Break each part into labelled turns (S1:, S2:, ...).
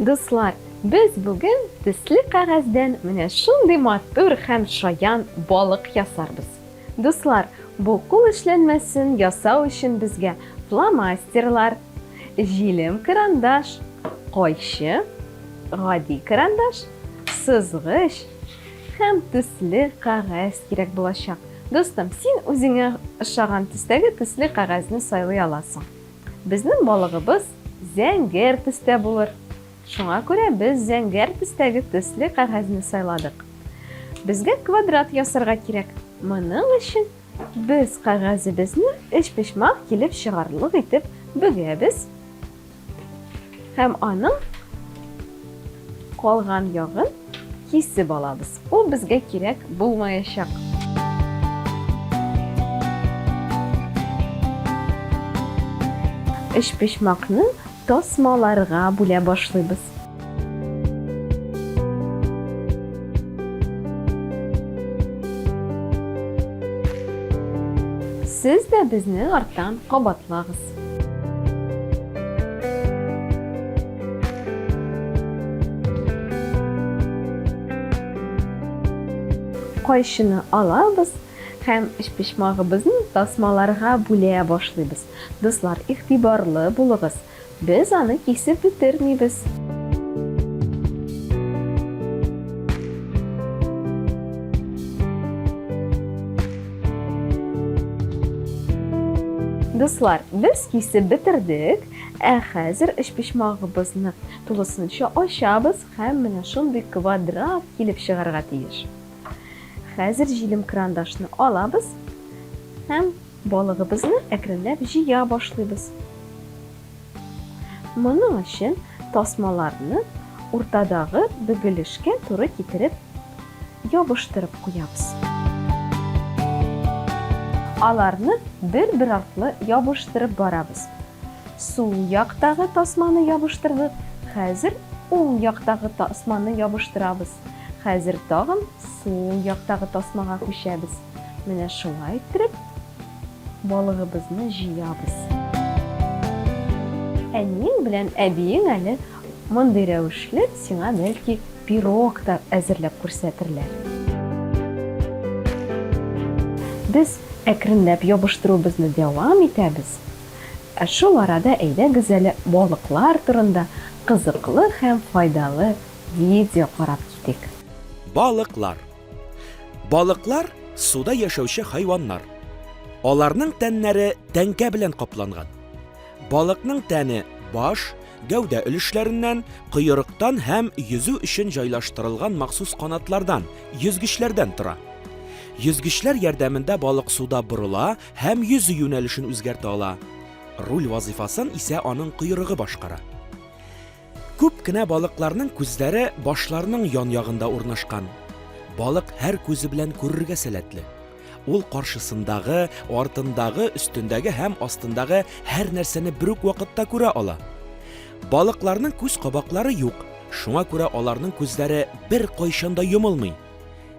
S1: Дуслар, без бүген төсле кәгазьдән менә шундый матур һәм шаян балык ясарбыз. Дуслар, бу кул эшләнмәсен ясау өчен безгә фломастерлар, җилем карандаш, кайчы, гади карандаш, сызгыч, һәм төсле кәгазь кирәк булачак. Дустым, син үзеңә ошаган төстәге төсле кәгазьне сайлый аласың. Безнең балыгыбыз зәңгәр төстә булыр. Шуңа күрә без зәңгәр төстәге төсле кәгазьне сайладык. Безгә квадрат ясарга кирәк. Моның өчен без кәгазебезне өчпочмак килеп чыгарлык итеп бөгәбез. Һәм аның калган ягын кисеп алабыз. Ул безгә кирәк булмаячак. Өчпочмакны тасмаларга бүлә башлыйбыз. Сез дә безне арттан кабатлагыз. Кайчыны алабыз һәм өчпочмагыбызны тасмаларга бүлә башлыйбыз. Дуслар, игътибарлы булыгыз, без аны кисеп бетермибез. Дуслар, без кисеп бетердек. Ә хәзер өчпочмагыбызны тулысынча ачабыз һәм менә шундый квадрат килеп чыгарга тиеш. Хәзер җилем крандашны алабыз һәм балыгыбызны әкренләп җыя башлыйбыз. Моның өчен тасмаларны уртадагы бөгелешкә туры китереп ябыштырып куябыз. Аларны бер-бер артлы ябыштырып барабыз. Сул яктагы тасманы ябыштырдык, хәзер уң яктагы тасманы ябыштырабыз. Хәзер тагын сул яктагы тасмага күчәбез. Менә шулай иттереп, Балыгыбызны җыябыз. Әниең белән әбиең әле мондый рәвешле сиңа бәлки пирог та әзерләп күрсәтерләр. Без әкренләп ябыштыруыбызны дәвам итәбез. Ә шул арада әйдәгез әле балыклар турында кызыклы һәм файдалы видео карап китик. Балыклар.
S2: Балыклар суда яшәүче хайваннар. Аларның тәннәре тәңкә белән капланган. Балыкның тәне баш, гәүдә өлешләреннән, коерыктан һәм йөзү өчен җайлаштырылган махсус канатлардан, йөзгечләрдән тора. Йөзгечләр ярдәмендә балык суда борыла һәм йөзү юнәлешен үзгәртә ала. Руль вазыйфасын исә аның коерыгы башкара. Күп кенә балыкларның күзләре башларының ян ягында урнашкан. Балык һәр күзе белән күрергә сәләтле. Ул каршысындагы, артындагы, өстендәге һәм астындагы һәр нәрсәне бер үк вакытта күрә ала. Балыкларның күз кабаклары юк, шуңа күрә аларның күзләре бер кайчан да йомылмый.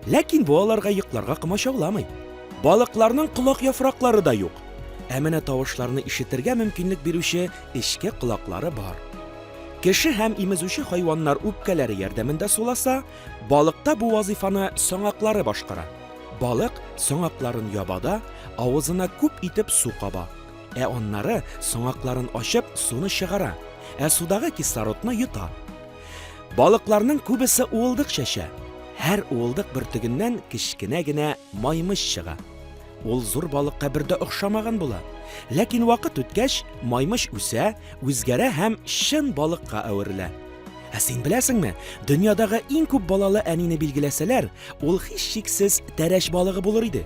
S2: Ләкин бу аларга йокларга комачауламый. Балыкларның колак яфраклары да юк. Ә менә тавышларны ишетергә мөмкинлек бирүче эчке колаклары бар. Кеше һәм имезүче хайваннар үпкәләре ярдәмендә суласа, балыкта бу вазифаны соңаклары башкара. Балык соңакларын ябада, авызына күп итеп су каба. Ә аннары соңакларын ачып суны чыгара, ә судагы кислородны йота. Балыкларның күбесе уылдык чәчә. Һәр уылдык бөртегеннән кечкенә генә маймыч чыга. Ул зур балыкка бер дә охшамаган була. Ләкин вакыт үткәч, маймыч үсә, үзгәрә һәм чын балыкка әверелә. Ә син беләсеңме, дөньядагы иң күп балалы әнине билгеләсәләр, ул һичшиксез тәрәш балыгы булыр иде.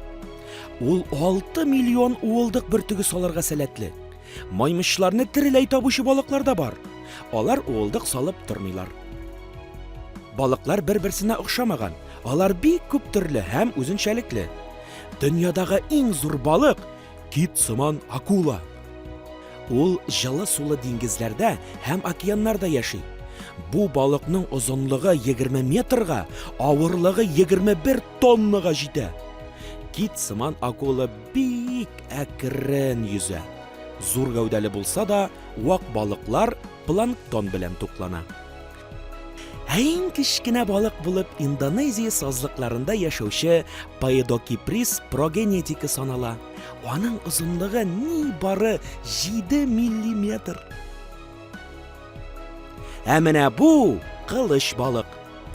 S2: Ул 6 миллион уылдык бөртеге салырга сәләтле. Маймычларны тереләй табучы балыклар да бар. Алар уылдык салып тормыйлар. Балыклар бер-берсенә охшамаган. Алар бик күп төрле һәм үзенчәлекле. Дөньядагы иң зур балык кит сыман акула. Ул җылы сулы диңгезләрдә һәм океаннарда яши. Бу балыкның озынлыгы 20 метрга, авырлыгы 21 тоннага җитә. Кит сыман акула бик әкрен йөзә. Зур гәүдәле булса да, вак балыклар планктон белән туклана. Ә иң кечкенә балык булып Индонезия сазлыкларында яшәүче Паедокиприс прогенетики санала. Аның озынлыгы ни бары 7 миллиметр. Ә менә бу кылыч балык.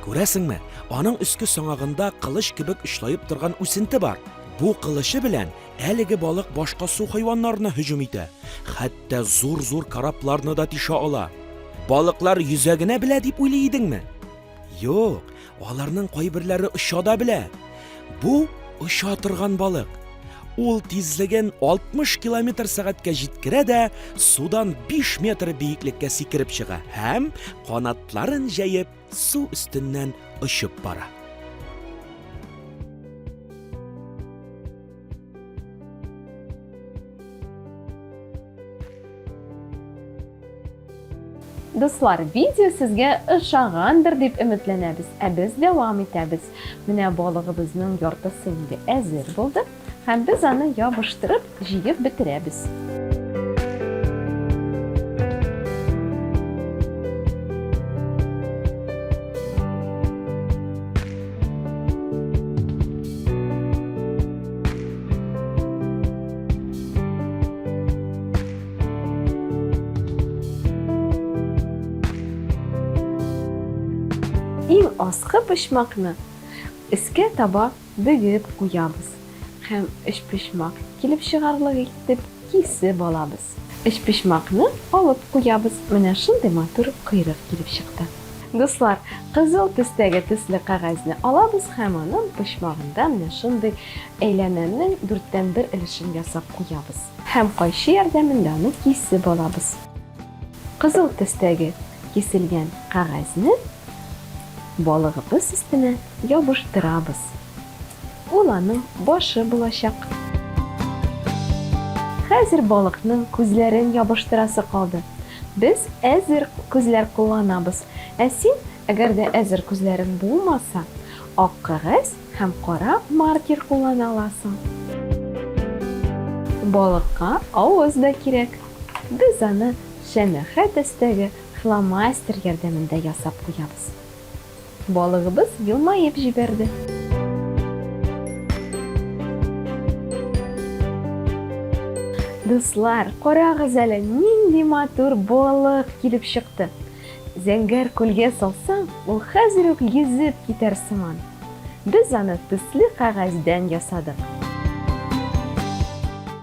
S2: Күрәсеңме, аның өске соңагында кылыч кебек очлаеп торган үсенте бар. Бу кылычы белән әлеге балык башка су хайваннарына һөҗүм итә, хәтта зур-зур корабларны да тишә ала. Балыклар йөзә генә белә дип уйлый идеңме? Юк, аларның кайберләре оча да белә. Бу оча торган балык. Ул тизлеген 60 километр сәгатькә җиткерә дә судан 5 метр биеклеккә сикереп чыга һәм канатларын җәеп су өстеннән очып бара.
S1: Дуслар, видео сезгә ошагандыр дип өметләнәбез. Ә без дәвам итәбез. Менә балыгыбызның яртысы инде әзер булды, һәм без аны ябыштырып, җыеп бетерәбез. Иң аскы почмакны өскә таба бөгеп куябыз һәм өчпочмак килеп чыгарлык итеп кисеп алабыз. Өчпочмакны алып куябыз. Менә шундый матур койрык килеп чыкты. Дуслар, кызыл төстәге төсле кәгазьне алабыз һәм аның почмагында менә шундый әйләнәнең дүрттән бер өлешен ясап куябыз. Һәм кайчы ярдәмендә аны кисеп алабыз. Кызыл төстәге киселгән кәгазьне балыгыбыз өстенә ябыштырабыз. Ул аның башы булачак. Хәзер балыкның күзләрен ябыштырасы калды. Без әзер күзләр кулланабыз. Ә син, әгәр дә әзер күзләрең булмаса, ак кәгазь һәм кара маркер куллана аласың. Балыкка авыз да кирәк. Без аны шәмәхә төстәге фломастер ярдәмендә ясап куябыз. Балыгыбыз елмаеп җибәрде. Дуслар, карагыз әле, нинди матур балык килеп чыкты! Зәңгәр күлгә салсаң, ул хәзер үк йөзеп китәр сыман. Без аны төсле кәгазьдән ясадык.